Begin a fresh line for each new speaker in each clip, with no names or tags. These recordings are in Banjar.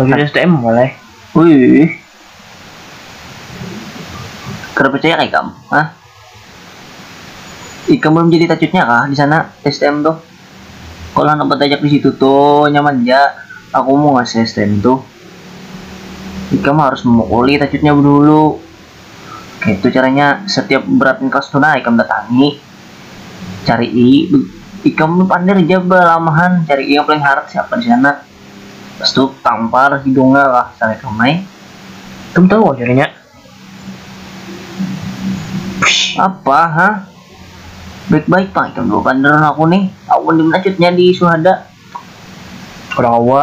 Bagi STM mulai. Wih. Kada percaya kah ikam? Hah? Ikam belum jadi tacutnya kah di sana STM tuh? Kalau anak bertajak di situ tuh nyaman ja. Aku mau ngasih STM tuh. Ikam harus memukuli tacutnya dulu. Itu caranya setiap berat kelas tuh nah ikam datangi. Carii, ikam ni pander ja balamahan, carii yang paling harat siapa di sana. Pas tu tampar hidungnya lah sanikam ai. Ikam tahu kah carinya? Pshh apa ha? Baik-baik pang ikam dua pander lawan aku ni, awan dimana cutnya di suhada? Orang awa.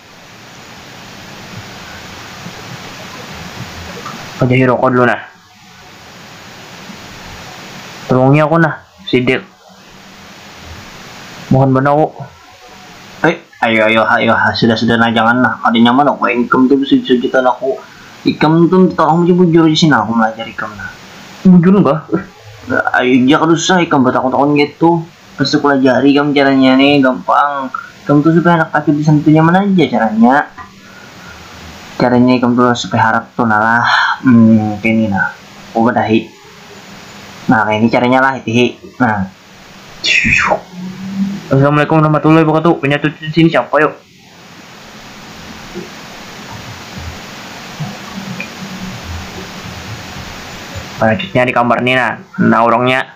Padahi rokok dulu nah. Tulungi aku nah, sidik. Mohon banar ku. Eh, ayo ayo ha ayo ha, sudah sudah nah jangan nah, kada nyaman aku ai ikam tu besujutan aku. Ikam tu minta tolong ja bujur aja sini nah aku malajar ikam nah. Bujur kah? Eh, ayo ja kada usah ikam batakun-takun kayatu. Tusuk lah jari kam caranya ni gampang kam tu supaya handak tapi disentuh tu nyaman aja caranya caranya ikam tu supaya harat tu nah lah hmm kaya ni nah coba dahi nah kaya ni caranya lah itihi nah syuuuh. Assalamualaikum warahmatullahi wabarakatuh penyatu tu disini siapa yo. Penyatutnya dikambar ni nah nah urangnya.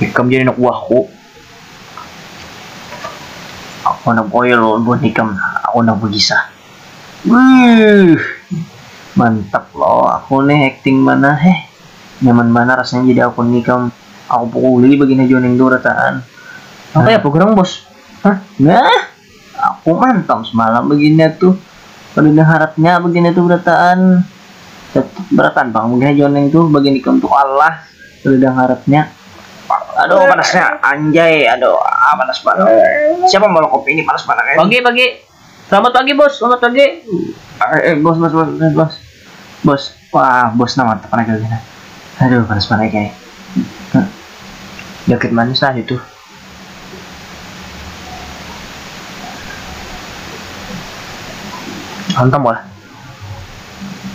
Ikam jadi anak buahku. Aku handak oil buat ikam nah, aku handak bagisah. Wuih, mantap lo aku nih acting mana heh. Nyaman banar rasanya jadi aku nih ikam. Aku pukuli bagina jua ning tu rataan. Nang kaya apa gerang bos? Hah? Nah. Aku mantap semalam begini tuh kada diharap nya begini tuh berataan tetap beratan pang mungkin haja wan ning tuh begini ikam tuh Allah kada diharap nya aduh panas nya anjay aduh ah panas banar siapa maulah kopi ini panas banar eh. Pagi pagi. Selamat pagi bos, selamat pagi. Bos bos bos bos bos. Wah bos nah mantap raga gin nah. Aduh panas banar ikn ai. Joget manis nah itu. Hantam lah.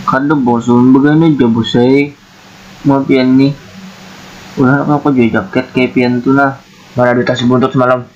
Kada bosan begana ja bos ai. Mau pian nih. Ulah aku jua jaket kayak pian tu nah. Mana duit hasil buntut semalam.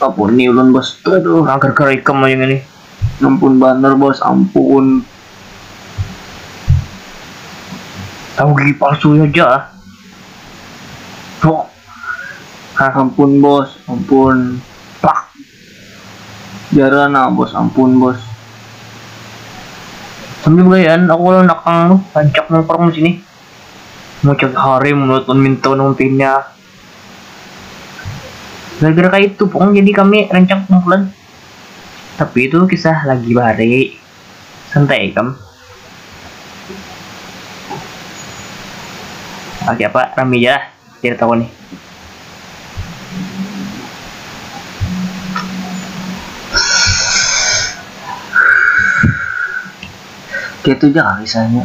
Ampun ni ulun bos, aduh angker kada ikam aja ngini. Ampun banar bos, ampun. Tahu gigi palsu haja ah. Pok. Hah ampun bos, ampun. Pak. Jara nah bos, ampun bos. Sambil begayaan aku lawan nakang tu, rancak nang parung disini. Macam hari mun ulun minta nang pinya. gara-gara kayak itu pokoknya jadi kami rancak kumpulan tapi itu kisah lagi bahari santai kam oke apa rame aja lah cerita aku nih gitu aja lah kisahnya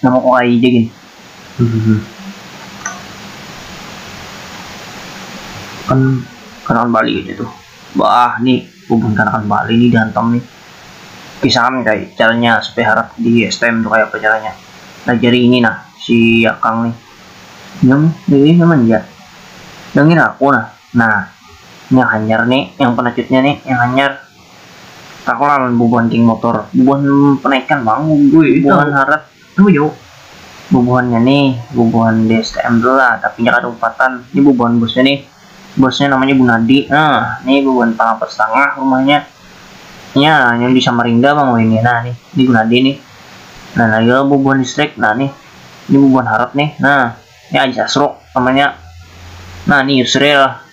Nama ku ai ja gin. Kan kanakan bali kayanya tuh. Baah ni bubun kanakan bali ni dihantam ni. Kisahan kaya caranya supaya harat di stm tuh kaya apa caranya. Nah jari ini nah si akang ni. Nang ini nang manja. Nang ngira aku nah. Nah. Yang hanyar ni yang penacutnya ni yang hanyar. Tahu lah amun bubuhan geng motor, bubuhan panaikan pang bubuhan harat nuyuk, bubuhannya nih bubuhan di STM tu lah tapi nya kada umpatan, nih bubuhan bosnya nih, bosnya namanya Gunadi nah nih bubuhan pang apat setangah rumahnya nya yang di Samarinda pang wahini nah nih, nih Gunadi nih, nah lagi lo bubuhan listrik nah nih, nih bubuhan harat nih nah, nih Aji Asruk namanya nah nih Yusril.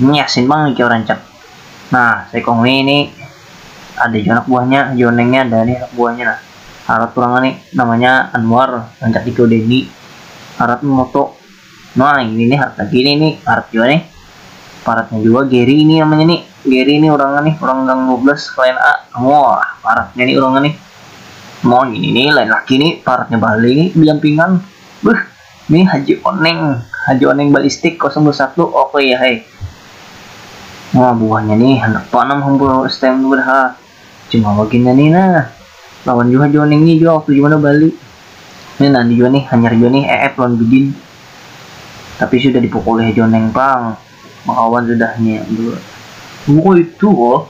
Ini asin pang nih jar rancak. Nah, saikung nih ini ada jua anak buahnya, jonengnya ada nih anak buahnya nah. Harat urang ngini namanya Anwar, rancak di Codeni. Harat memoto. Nah, ini nih harat lagi nih, ini harat jua nih. Paratnya jua Gary ini namanya nih. Gary ini urangnya nih, urang gang 12 klien A. Wah, paratnya nih urangnya nih. Mau ini nih lain lagi nih, paratnya bali nih, diampingan. Beuh. Nih haji oneng, haji oneng balistik kosong dua satu ok ya he. Nah buhannya nih handak tanam hampura stm tu dah ha. Cuma waginnya nih nah, lawan jua haji oneng nih jua waktu dimana bali. Nih nanti jua nih hanyar jua nih eep lawan bidin. Tapi sudah dipukuli haji oneng pang, bakawan sudah nya dua. Oh kaya itu kah,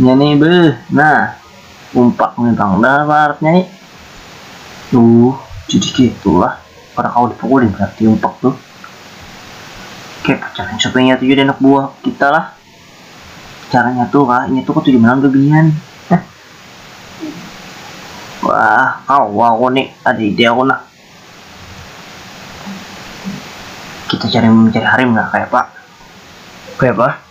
Nya ni beuh, nah umpak ni pang dah baharap nya ni. Uuh, jadi kitu lah, kada kawa dipukuli berarti umpak tu. Kaya pacarnya supai inya tu jadi anak buah kita lah. Cara nya tu kah, inya tu katuju banar gabihan. Wah, kawa aku ni, ada ide aku nah. Kita cari mencari harim lah, kayapa? Kayapa?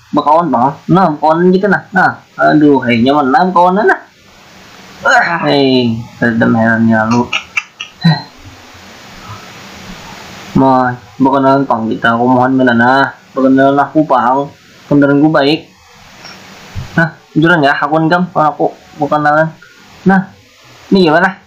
Bakawan pang nah bakawanan kita nah nah aduhai nyaman nah bakawanan nah ahai kadada maherannya lalu Mah bakanalan pang kita aku mohon kena nah bakanalan aku pang pandaranku baik nah bujuran ya hakuan ikam lawan aku bakanalan nah ini gimana.